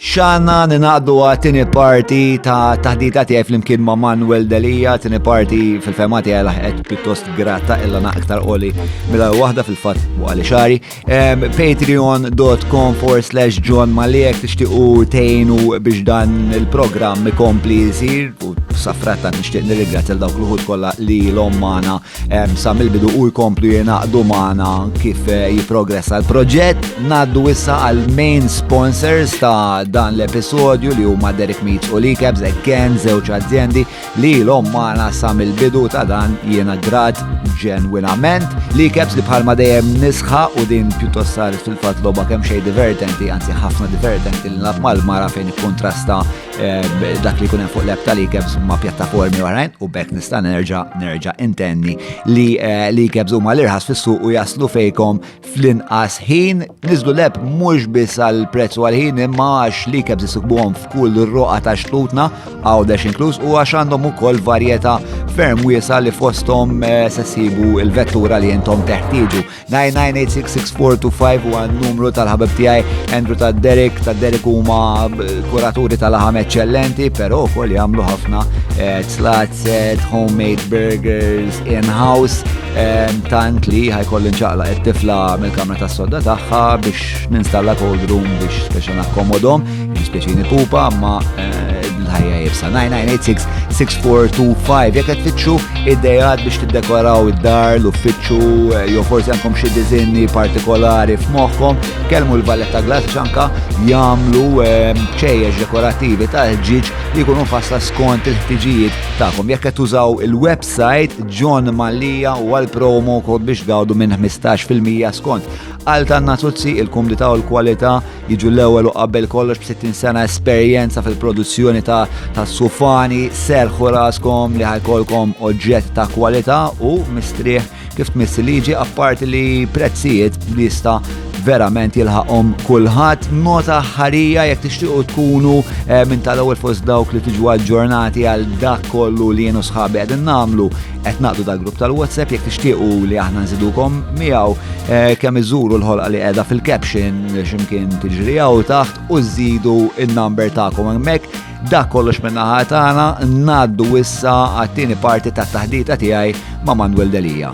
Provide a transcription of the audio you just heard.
Xana ninaqdu għatini parti ta' taħdita tiegħi flimkien ma' Manuel Delia, tini parti fil-fema tiegħi laħqet pjuttost gratta illa naqtar qoli mela waħda fil-fatt għali xari. Patreon.com for slash John Maliek tixtiqu tejnu biex dan il-programm ikompli jisir u safratta nixtieq nirringrazzja dawk l-ħut kollha li l-ommana Sa mill-bidu u jkomplu jenaqdu maħna kif eh, jiprogressa l-proġett. Naddu issa għal main sponsors ta' dan l-episodju li huma Derek Meats u Likebs again żewġ aziendi li l-om maħna sa mill-bidu ta' dan jena grat ġenwinament. Likebs li bħalma dejjem nisħa u din pjuttost saret fil-fat loba kemm xej divertenti, anzi ħafna divertenti li naf mal-mara fejn kontrasta Eh, dak li kunem fuq l-app tal-ikebs ma' pjattaformi oħrajn u bekk nista' nerġa' nerġa' intenni li eh, l-ikebs huma l-irħas fis-suq u jaslu fejkom fl-inqas ħin niżlu l-app mhux biss għal prezz u għal ħin imma għax l-ikebs isibbuhom f'kull roqa ta' xtutna għawdex inkluż u għax għandhom ukoll varjetà ferm wiesa li fosthom eh, se sibu l-vettura li intom teħtieġu. 9986642 huwa n-numru tal-ħabib tiegħi Andrew ta' Derek ta' Derek huma kuraturi tal-ħam eċċellenti, però wkoll jagħmlu ħafna eh, tlat set, homemade burgers in-house eh, tant li ħajkolli nċaqla qed tifla mill-kamra tas-sodda tagħha biex ninstalla cold room biex biex nakkomodhom. Dispjaċini pupa ma eh, l-ħajja jibsa. 9986-6425 jek tfittxu id-dejad biex tiddekoraw id-dar, l-uffiċċu, eh, jew forsi għandkom xi dizinni partikolari f'moħħkom, kelmu l-Valletta Glass ċanka jagħmlu eh, ċejjex dekorativi ta' ġiġ li jkunu fasla skont il-ħtiġijiet tagħkom. Jekk qed tużaw il-website John Mallia u għal promo kod biex għawdu minn 15% skont għal tan-nazuzzi il-kumdita u l-kwalità jiġu l-ewwel u qabel kollox b'60 sena esperjenza fil-produzzjoni ta' tas-sufani, serrħu raskom li ħajkolkom oġġett ta' kwalità u mistrieħ kif tmiss il-liġi apparti li prezzijiet li jista' verament jilħaqhom kulħadd. Nota ħarija jekk tixtiequ tkunu eh, minn tal-ewwel fost dawk li tiġu aġġornati għal dak kollu li jienu sħabi qegħdin nagħmlu qed naqdu dal grupp tal-WhatsApp jekk tixtiequ li aħna nżidukom miegħu eh, kemm iżuru l-ħolqa li qiegħda fil-caption x'imkien tiġri hawn taħt u żidu n-number tagħkom hemmhekk. Dak kollox minn naħa tagħna ngħaddu issa għat-tieni parti tat-taħdita tiegħi ma' Manuel Delija.